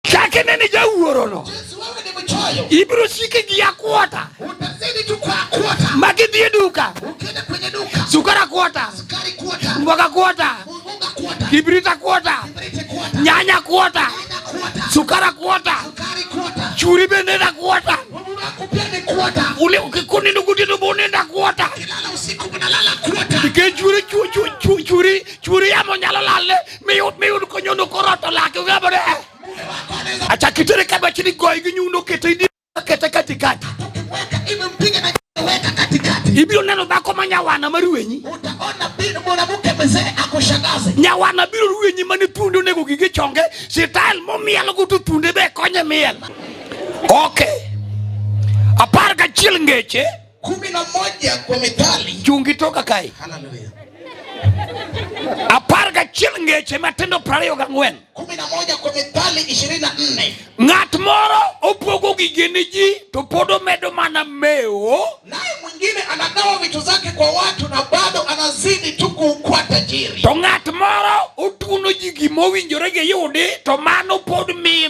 Chak ine ni jawuorono. Ibiro siki gi akwota. Ma gidhi e duka. Sukari akwota. Mboga akwota. Kibrit akwota. Nyanya akwota. Sukari akwota. Churi bende en akwota. Kikundi ndugu tinu bunenda akwota. Nikech churi churi churi churi yamo nyalo lalne miyud miyud ko nyondo ko roto lak yo ga bore acha kitere ka ba chini goy gi nyundo kete di kete kati kati ibiro neno dhako ma nyawana ma ruwenyi nyawana biro ruwenyi mane thundi onego gige chonge sitael momiel go to thundi be konye miel ok apar gachiel ngeche kumi na moja kwa mithali chungi toka kae haleluya apar gachiel ngeche matindo prariyo gang'wen kumi na moja kwa mithali ishirini na nne ng'at moro opogo gige ni ji to pod omedo mana mewo naye mwingine anagawa vitu zake kwa watu na bado anazidi tu kuwa tajiri to ng'at moro otuno ji gimowinjore giyudi to mano pod miye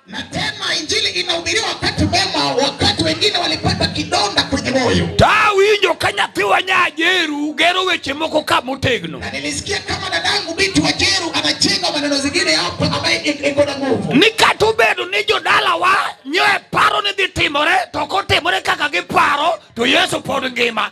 Na tena injili inahubiriwa wakati mema, wakati wengine walipata kidonda kwenye moyo. Tawinjo ka nyathi wa Nyajeru gero weche moko ka motegno. Na nilisikia kama dadangu binti wa Jeru anajenga maneno zingine hapo ambaye iko na nguvu. Ni kata obedo ni jodala wa nyoe paro ni dhi timore to kotimore kaka giparo to Yesu pod ngima.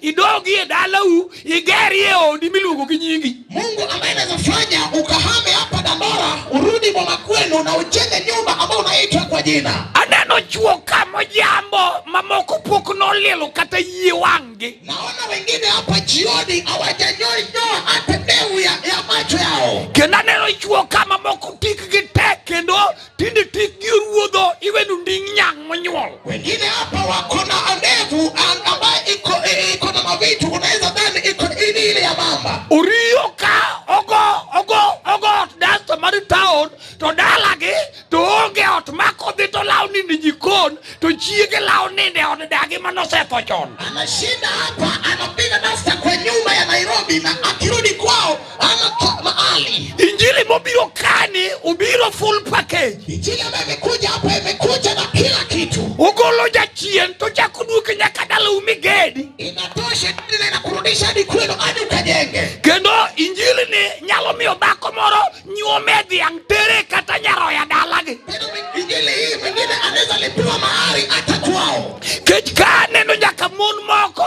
idogi e dalau igeri e odi miluongo gi nyingi. Mungu ambaye anaweza fanya ukahame hapa Dandora urudi boma kwenu na ujenge nyumba ambayo unaitwa kwa jina. Aneno chuo kama jambo mamoko pok nolilo kata yie wangi. Naona wengine hapa jioni hawajanyoa hata deu ya, ya macho yao. Kenda neno chuo kama moko tik gi tek kendo Tinde tikgi oruodho iwenu ndi nyang' monyuol. Wengine hapa wako na ndevu an- ambayo iko eh, iko na mavitu, unaweza dhani iko ili ile ya mamba. Oriyo ka ogo ogo ogo ot dasta mar taon to dalagi to onge ot ma kodhi to lawo ninde jikon to chiege lawo ninde od dagi manosetho chon. Anashinda hapa anapiga dasta kwa nyumba ya Nairobi na akirudi kwao mahali. Injili mobiro kani ubiro full package. Injili ambayo imekuja hapa imekuja na kila kitu. Ugolo jachien to chako duoke nyaka dala umigedi. Inatosha na inakurudisha hadi kwenu hadi ukajenge. Kendo injili ni nyalo miyo dhako moro nyuome dhiang' tere kata nyaroya dalagi. Kendo injili hii mwingine anaweza lipiwa mahali hata kwao. Kech ka aneno nyaka mon moko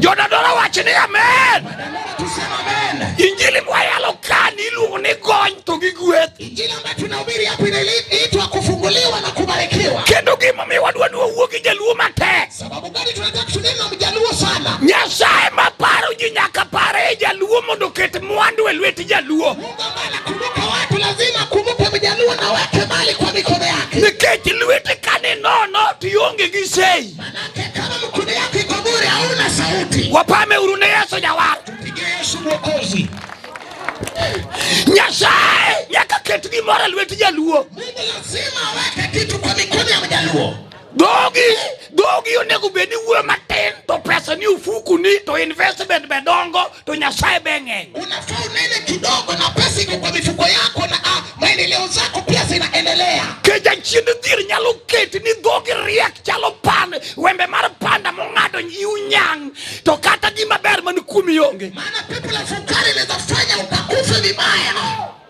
Jodadora wach ni amen. Injili mwayalo kani iluongo ni gony to gi gweth. Injili ambayo tunahubiri hapa inaitwa kufunguliwa na kubarikiwa. Kendo gima mi wadwa ni wawuo gi jaluo matek. Sababu gani tunataka tunene na mjaluo sana? Nyasaye maparo ji nyaka pare jaluo mondo oket mwandu e lwet jaluo. Mungu ambaye anakumbuka watu lazima akumbuke mjaluo na weke mali kwa mikono yake. Nikech lwete kane nono tionge gi sei. Manake kama mkono yako iko bure hauna sauti. Wapame urune Yesu ya watu. Piga Yesu mwokozi. Nyasaye nyaka ket gimoro e lwet jaluo. Mungu lazima aweke kitu kwa mikono ya mjaluo. Dogi, dogi onego bed ni wuoyo matin to pesa ni ofuku ni to investment be dongo to Nyasaye be ng'eny. Unafaa unene kidogo na pesa iko kwa mifuko yako na ah, maendeleo zako pia zinaendelea. Keja chiend dhir nyalo keti ni dhogi riek chalo pan wembe mar panda mong'ado yiu nyang' to kata gima ber man kuomi onge. Maana pepo la fukara inaweza fanya ukakufe vibaya.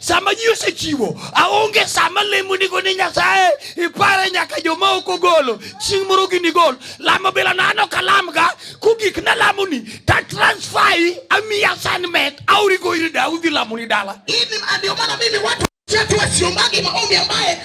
Sama ji osechiwo, aonge sama lemo nigo ni Nyasaye ipare nyaka joma ok ogolo chieng' moro gini gol lamo bila nano kalam ga kugik na lamo ni ta transfer yi ami assignment auri go iri da udhi lamo ni dala. Ili ndio maana mimi watu chetu wasiombagi maombi ambaye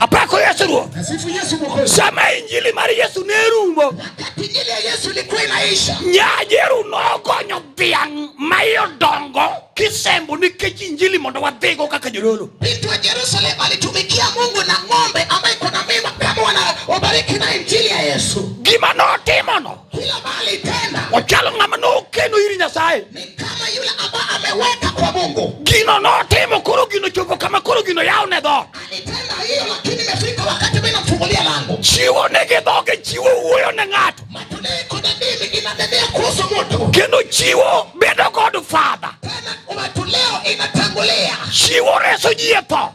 apako yesu ruoth sama injili mar yesu ne rumo nyajeru nogonyo dhiang' ma iye odongo kisembo nikech injili mondo wadhigo kaka jodolo gima notimono kila mahali tena. Wachalo ng'ama nokeno iri Nyasaye. Ni kama yule ambaye ameweka kwa Mungu. Gino notimo koro gino chopo kama koro gino yao ne dho. Alitenda hiyo lakini imefika wakati mimi namfungulia lango. Chiwo ne gi dhoge chiwo wuoyo ne ng'ato. Matunda iko na dini inadedea kuhusu mtu. Kendo chiwo bedo kod father. Tena umetuleo inatangulia. Chiwo reso ji e tho.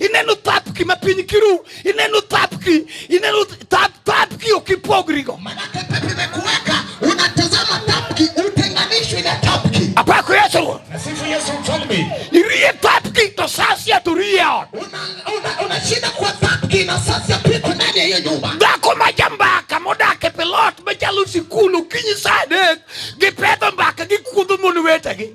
ineno thapki ma piny kiru ineno thapki ineno thap thapki okipogrigo maana pepe vimekuweka unatazama thapki utenganishwi na thapki apako yesu nasifu yesu mfalme irie thapki to sasia to rie ot unashinda una, una kwa thapki na sasia piko ndani ya hiyo nyumba dhako ma jambaka modak e pilot machalo sikul okinyi saa adek gipedho mbaka gikudho mon wetegi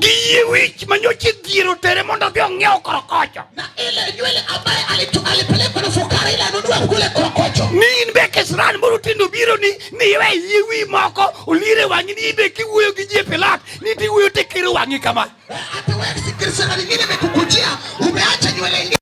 Giye wich ma nyocha idhiero tere mondo odhi ong'iew korokocho. Ni in be kisran moro tindo biro ni ni iwe yie wi moko olire wang'i ni ibe kiwuoyo gi ji e Pilat ni tiwuoyo tekero wang'i kama.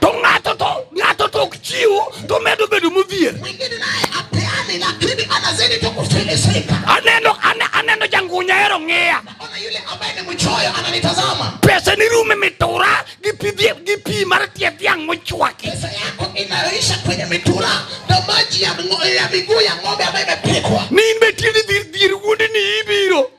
To ng'ato to ng'ato to ok chiw to medo bedo modhier. Aneno aneno jangunya hero ng'iya. Pesa ni rume mitura gi pi gi pi mar tie dhiang' mochwaki. Pesa yako inaisha kwenye mitura na maji ya miguu ya ng'ombe ambayo imepikwa. Ni imbe tieni dhir wuondi ni ibiro.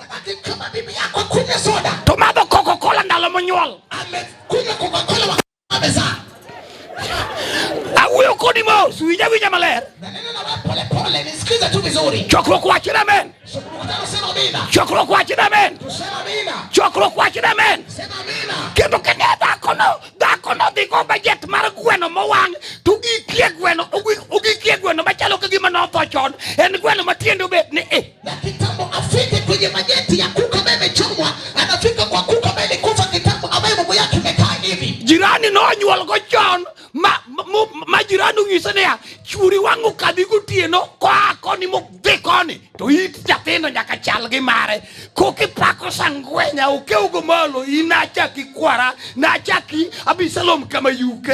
Akikama bibi yako akunywe soda. To madho Coca-Cola ndalo monyuol. Amekunywa Coca-Cola wakati amezaa. Awuoyo kodi mos, winja winja maler. Nanena na wewe pole pole, nisikize tu vizuri. Chokruok wachne amen. Mkutano sema amina. Chokruok wachne amen. Tusema amina. Chokruok wachne amen. Sema amina. Kendo kene dhako no, dhako no dhi go bajet mar gweno mowang' to gikie gweno, ogikie gweno machalo ka gima notho chon. En gweno matiende obet ni eh. Na kitambo afike kwenye majeti ya kuku ambaye imechomwa, anafika kwa kuku ambaye alikufa kitambo, ambaye mambo yake imekaa hivi. Jirani no nyuol go chon ma ma jirani ung'ise niya churi wangu kadhi gotieno koa koni modhi koni to it jathindo nyaka chal gi mare kokipako sangwenya okewgo malo inachaki kwara nachaki abisalom kama yuke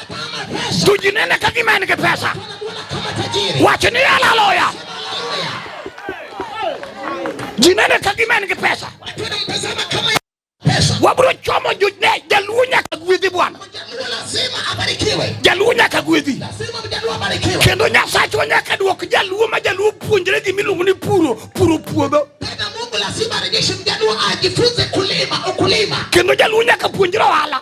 Tujinene ka gima en gi pesa. Wacho ni haleluya. Jinene ka gima en gi pesa. Wabro chomo june jaluo nyaka gwedhi bwana. Jaluo nyaka gwedhi. Kendo Nyasachwa nyaka duok jaluo ma jaluo puonjre gi miluongo ni puro puro puodho. Kendo jaluo nyaka puonjre ohala.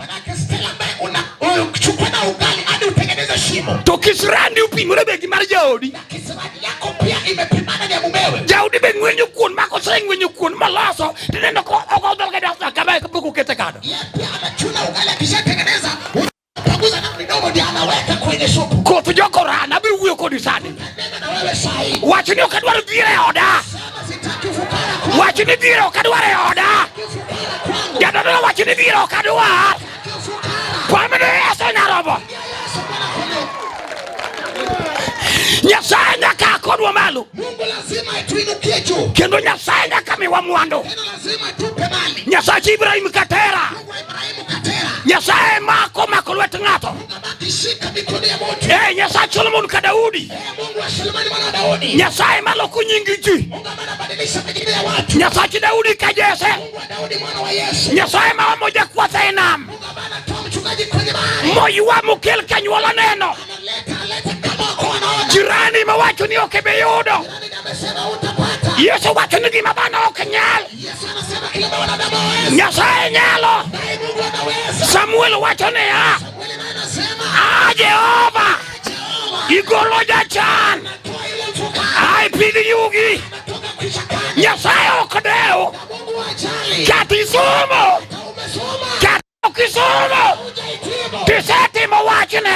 Tukisrandi upimore begi mar jaodi. Jaodi be ng'wenyo kuon mako seng ng'wenyo kuon maloso tinendo ko ogodol kada sa kama ekapoko ukete kada. Koth jokorana abiro wuoyo kodi sani. Wachni ok adwar dhier e oda. Wach ni biro kadwar e oda. Jadolo wach ni biro kadwar. Kwamino Yesu nyarobo. Nyasaye nyaka akodwa malo. Mungu lazima atuinukie juu. Kendo Nyasaye nyaka miwa mwandu. Nyasaye Ibrahim katera. nyasaye mako omako lwet ng'ato e nyasaye solomon ka daudi nyasaye maloko nying ji nyasachi daudi ka jese nyasaye ma omo jakwatha e nam moywa mokel kanyuola neno jirani mawacho ni ok ebe yudo yesu wacho ni gima dhano ok nyal Nyasaye nyalo. Samuel wacho niya, a Jehova igolo jachan ai pidh yugi. Nyasaye ok dew kata isomo Ukisoma tiseti mawachne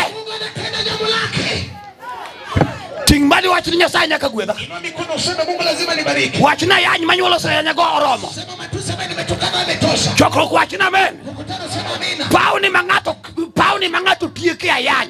ting' mali wach ni Nyasaye nyaka gwedha. Wach na yany manyuol oseyanya go oromo. Chokruok wach na amen. Pawni ma ng'ato pawni ma ng'ato tieke ayany.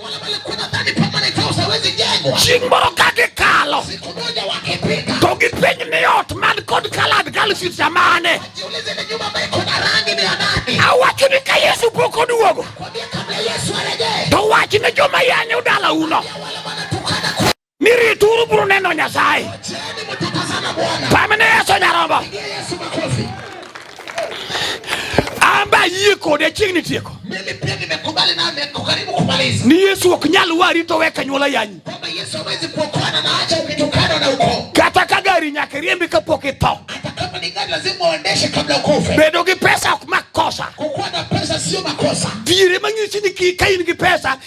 Chieng' moro ka gikalo to gipenj ni ot man kod kalad kalsit samane. Awacho ni ka Yesu pok oduogo to wach ne joma yanyo dalauno. ni rituru biro neno Nyasaye. Pamne Yesu nyarombo. Amba yie kode chiegni tieko. Mimi pia nimekubali na niko karibu kumaliza. Ni Yesu ok nyal wari to weka nyuola yanyi. Kwamba Yesu hawezi kuokoana na acha ukitokana na uko. Kata ka gari nyaka riembi kapok itho. Hata kama ni gari lazima uendeshe kabla ukufe. Bedo gi pesa ok makosa. Kukuwa na pesa sio makosa. Diere mang'isi ni ka in gi pesa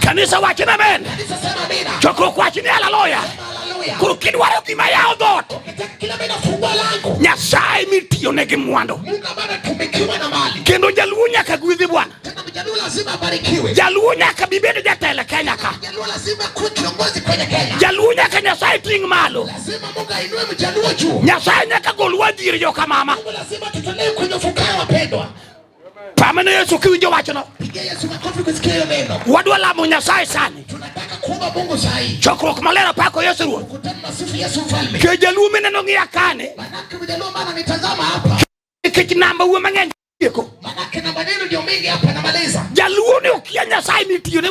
Kanisa wacho ni amen. Chokruok wacho ni haleluya. Koro kidwaro gima yawo dhoot, Nyasaye mitiyone gi mwandu, kendo jaluo nyaka gwedhi Bwana. Jaluo nyaka bibedo jatelo Kenya ka. Jaluo nyaka Nyasaye ting' malo. Nyasaye nyaka gol wadhier joka mama. Pamene Yesu kiwinjo wachno. Pigia Yesu makofi kusikia hiyo neno. Wadwa lamo Nyasaye sani. Tunataka kuomba Mungu sahi. Chokruok maler apako Yesu Ruoth. Kutana na sifu Yesu mfalme. Ke jaluo mineno ng'iya kane. Manake mjaluo maana nitazama hapa. Nikech namba uwe mang'eny. Manake namba neno ndio mingi hapa namaliza. Jaluo ni ukia Nyasaye ni tiyo ne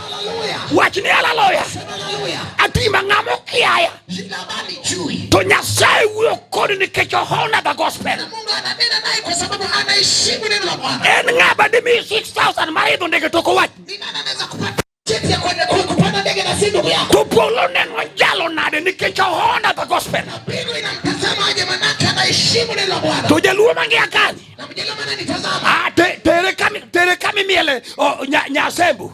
Wachni haleluya. Atima ng'ama okiaya. To Nyasaye wuoyo kodi nikech ohona the gospel. En ng'a bende miyi 6000 mar idho ndege tok owach. To polo neno jalo nade nikech ohona the gospel. To jaluo mangi akani. Ah, tereka mimi ele oh, nyasembo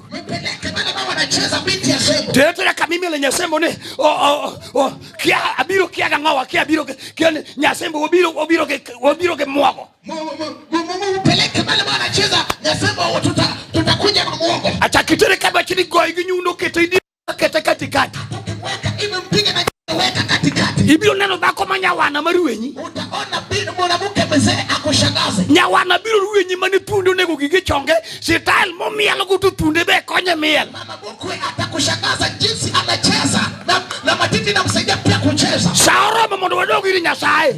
tereka mimi ele nyasembo ni oh, oh, kia abiro kia ga ngawa kia abiro kia nyasembo obiro obiro ke obiro ke mwago upeleke pale bwana cheza nyasembo tutakuja na mwago acha kitere kama chini goi ginyundo kete kete katikati ibiro neno dhako ma nyawana ma ruwenyi nyawana biro ruwenyi mane thuonde onego gige chonge sitael momielogo to thuonde be konye miel sa oromo mondo wadog iri nyasaye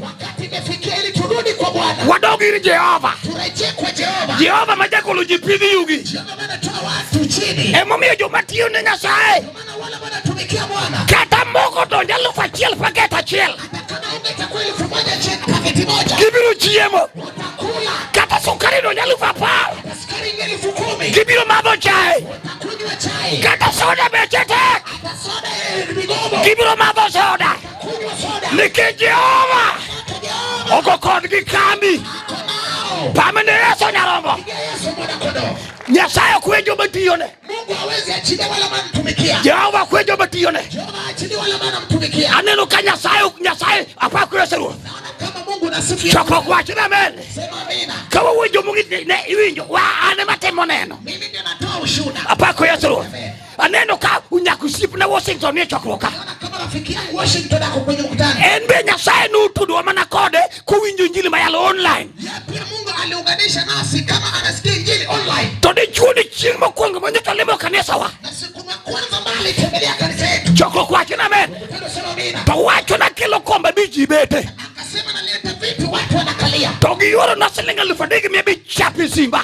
wadog iri jehova jehova ma jagolo ji pidhi yugi emomiyo joma tiyo ne Nyasaye kata moko donjo eluf achiel paket achiel gibiro chiemo kata sukari donjo eluf apar gibiro madho chae kata soda beche tek gibiro madho soda Nikech Jehova oko kodgi kambi pamene Yesu nyarombo Nyasaye kwe joma tiyone. Mungu hawezi achilia wala anamtumikia. Jehova kwe joma tiyone. Jehova achilia wala anamtumikia. Aneno ka Nyasaye Nyasaye apakure seruo. Naona kama Mungu nasifu. Choko kwa china amen. Sema amina. Kama wewe jomungine iwinjo wa ane matemo neno. Mimi ndio natoa ushuhuda. Apakure seruo. Amen. Aneno ka unyako osiepna Washington e chokruok ka. En be Nyasaye notudwa mana kode kowinjo injili mayalo online. To dichuo ni chieng' mokwongo ma nyocha limo kanisawa. Chokruok wacho na amen. To wacho na kelo kombe bi ji bete. To giyoro na siling' alufu adek mia abich chapi Simba.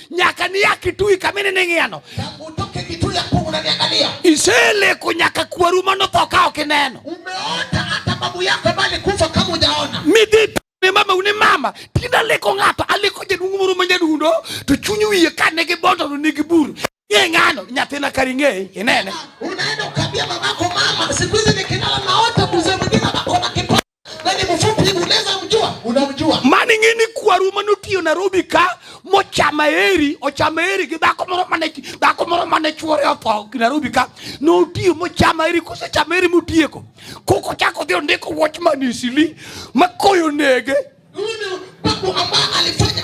nyaka niya kitui kama inene ng'iyano iseleko nyaka kwaru mano tho ka ok ineno midhi ne mama une mama tinde aleko ng'ato aleko jaduong' moro ma nyadundo to chuny wiye ka ne gibondo to nigi buru ye ng'ano nyathina kari ng'eye inene unaenda ukambia mamako mama siku hizi nikilala naota mzee mwingine anakona kipo Nani mfupi hivi unaweza mjua? Unamjua. Mani ngini kwa ruma nutio Nairobi ka mochama eri, ochama eri ki dako moro mane dako moro mane chuore opo Nairobi ka nutio mochama eri kuse chama eri mutieko. Koko chako dhio ndiko watchman isili makoyo nege. Unu babu ambaye alifanya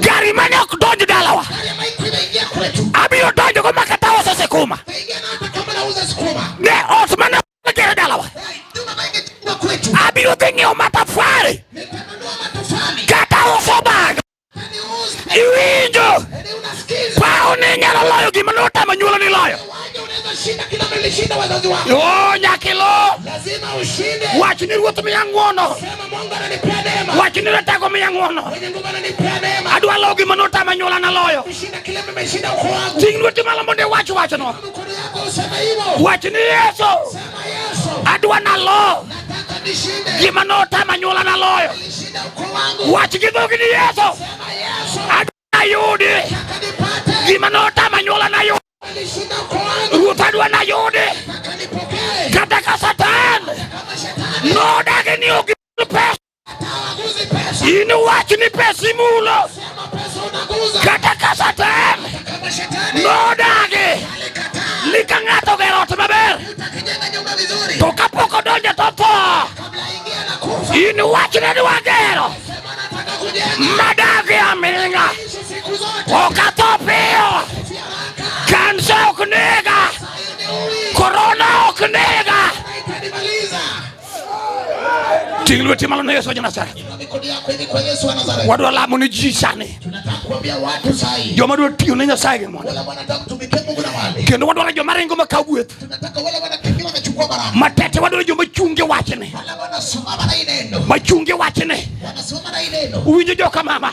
Gari mane ok donj dalawa. Abiro donjo go makata uso sikuma. Ne ot mane ok gere dalawa. Abiro dhi ng'iewo matafari. Kata uso bag. Iwinjo. Paone nyalo loyo gima notamo nyuolo ni loyo. Oh, Nyakilo, wach ni ruoth miya ng'wono, wach ni ratego miya ng'wono, adwa lowo gima notama nyuola naloyo. Ting' lweti malo mondo iwach wachno, wach ni Yesu, adwa nalo gima notama nyuola naloyo. Wach gi dhogi ni Yesu, adwa nayudi gima notama nyuola nayudi. Ruta dwa nayudi kata ka Satan nodagi ni ok pesa in wach ni pesa imulo kata ka Satan nodagi ni ka ng'ato gero ot maber to kapok odonjo to tho in wach ne dwa gero madagi aming'a ok atho piyo Kansa ok nega, korona ok nega. Ting' lweti malo ne Yesu wa Nazareth. Wadwa lamo ni ji sani, joma dwa tiyo ne Nyasaye gi mondo, kendo wadwa ni joma ringo makaw gweth matete, wadwa ni joma chunge wachne, machunge wachne, uwinjo joka mama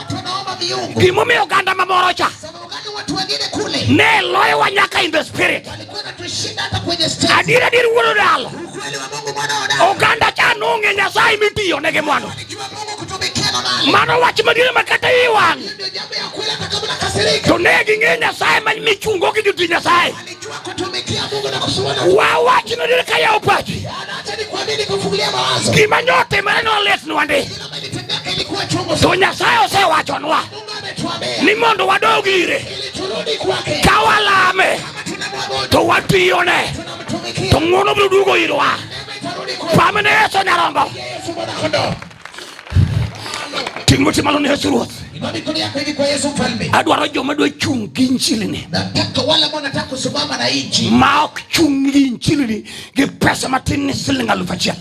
gimomiyo oganda mamoro cha ne loyowa nyaka in the spirit. Adier adier wuod odalo, oganda cha nong'e Nyasaye mitiyo ne gi mwandu. Mano wach madier ma kata i wang' to ne ging'e Nyasaye ma michungo gi joti Nyasaye. Wa wach nadier ka yawo pachi, gima nyotimore nolitnwa ndi to Nyasaye osewachonwa ni mondo wadog ire ka walame to watiyone to ng'wono biro duogo irwa pame ne Yesu nyarombo ting' lweti malo ne Yesu Ruoth adwaro joma dwa chung' gi injilini ma ok chung' gi injilini gi pesa matin ni siling' alufu achiel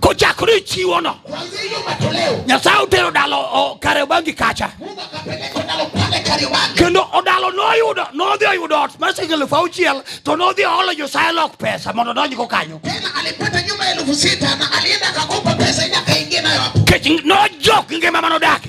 kochakore chiwono nyasaye otero dalo kariobangi kacha kendo odalo noyudo nodhi oyudo ot mar siling elufu auchiel to nodhi oolo nyasaye lok pesa mondo odonjgo kanyo kech nojok ngima manodake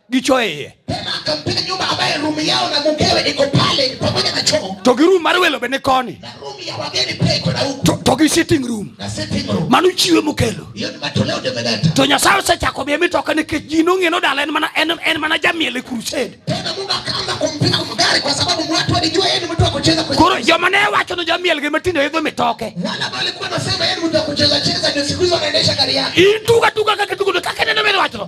gicho eye to gi room mar welo be ni koni to gi sitting room mano chiwe mokelo to nyasaye osechako miye mitoka nikech ji nong'eno dala en mana jamiel e crusade koro joma ne wacho no jamiel gi matindo idho mitoke ituga tuga kaka tugo kaka neno mene wacho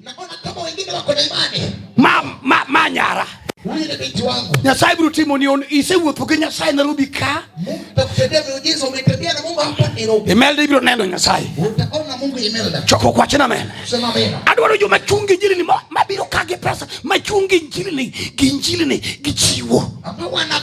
Naona kama wengine wako na imani. Ma, ma, manyara. Huyu ni binti wangu. Nyasaye biro timo ni on ise wuotho gi Nyasaye Nairobi ka. Takutendea miujiza umetembea na Mungu hapa Nairobi. Imelda ibiro neno Nyasaye. Utaona Mungu Imelda. Choko kwa chena mena. Sema amen. Adwaro jo machungi jili ni mabiro kage pesa. Machungi jili ni ginjili ni gichiwo. Ama wana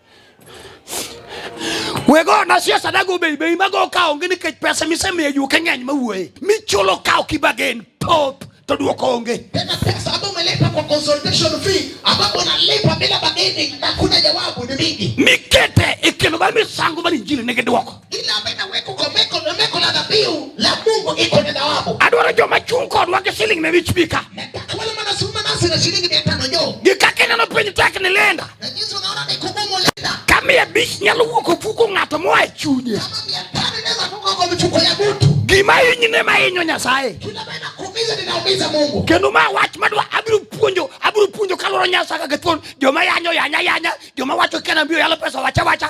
wego na siasa dago bei bei mago kawo ngi nikech pesa misemiyo ju keng'eny mawuoye michulo kawo kibagen pop to duoko onge tena pesa ambayo umelipa kwa consultation fee ambapo unalipa bila bargaining na kuna jawabu ni mingi mikete ikelo ba misango mar injili nigi duoko Ile ambayo inawekwa kwa meko na meko na dhabihu la Mungu iko na thawabu. Adwaro joma chung' kodwa gi siling' mia abich bika. Nataka wale manasuma nasi na shilingi mia tano jo. Gikaka ineno piny tek ni linda. Na jinsi unaona ni kugumu linda. Ka mia abich nyalo wuok ofuko ng'ato moa e chunye. Kama mia tano inaweza toka kwa mifuko ya mtu. Gima hinyi ne ma hinyo Nyasaye. Kila ambayo inakuumiza ninaumiza Mungu. Kendo ma wach madwa abiro puonjo abiro puonjo kaluwore Nyasaye kaka thuon joma yanyo yanya yanya joma wacho kena mbio yalo pesa wacha wacha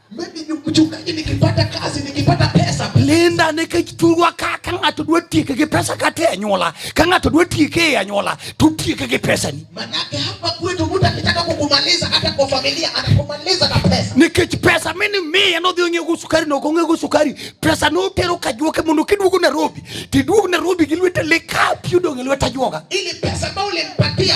Mchungaji, nikipata kazi, nikipata pesa, Linda nikitulwa ka ka ng'ato dwa tieke gi pesa kata e anyuola ka ng'ato dwa tieke e anyuola to tieke gi pesa ni. Manake hapa kwetu mtu akitaka kukumaliza hata kwa familia anakumaliza na pesa. Nikech pesa mimi mimi anodhi ong'e go sukari no ong'e go sukari pesa no tero ka juoke mondo kiduogo Nairobi tiduogo Nairobi gi lwete leka piudo ng'e lweta juoga. Ili pesa bao limpatia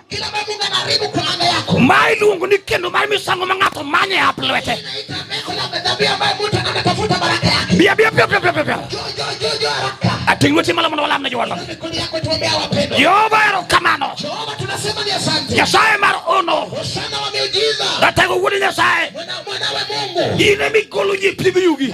Mai luongo ni kendo mar misango ma ng'ato manye hap lwete. Bia bia bia bia bia bia. Ating' lweti malo mondo walam ne jowadwa. Jehova erokamano. Nyasaye mar ono. Ratego wuod Nyasaye. In ema igolo ji pidh yugi.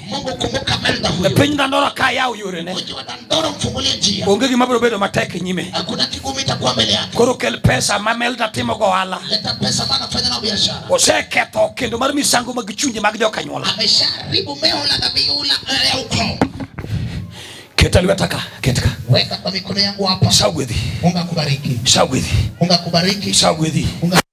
Mungu kumbuka Melda huyo. Piny Dandora ka yaw yorene. Mji wa Dandora mfungulie njia. Onge gima biro bedo matek e nyime. Hakuna kigumu itakuwa mbele yake. Koro kel pesa ma Melda timo go ohala. Leta pesa ma anafanya na biashara. Oseketho kendo mar misango mag chunje mag jokanyuola. Amesharibu meho la dhabihu la eh, ukoo. Keta lweta ka, keta ka. Weka kwa mikono yangu hapa. Sawa gwedhi. Mungu akubariki. Sawa gwedhi. Mungu akubariki. Sawa gwedhi.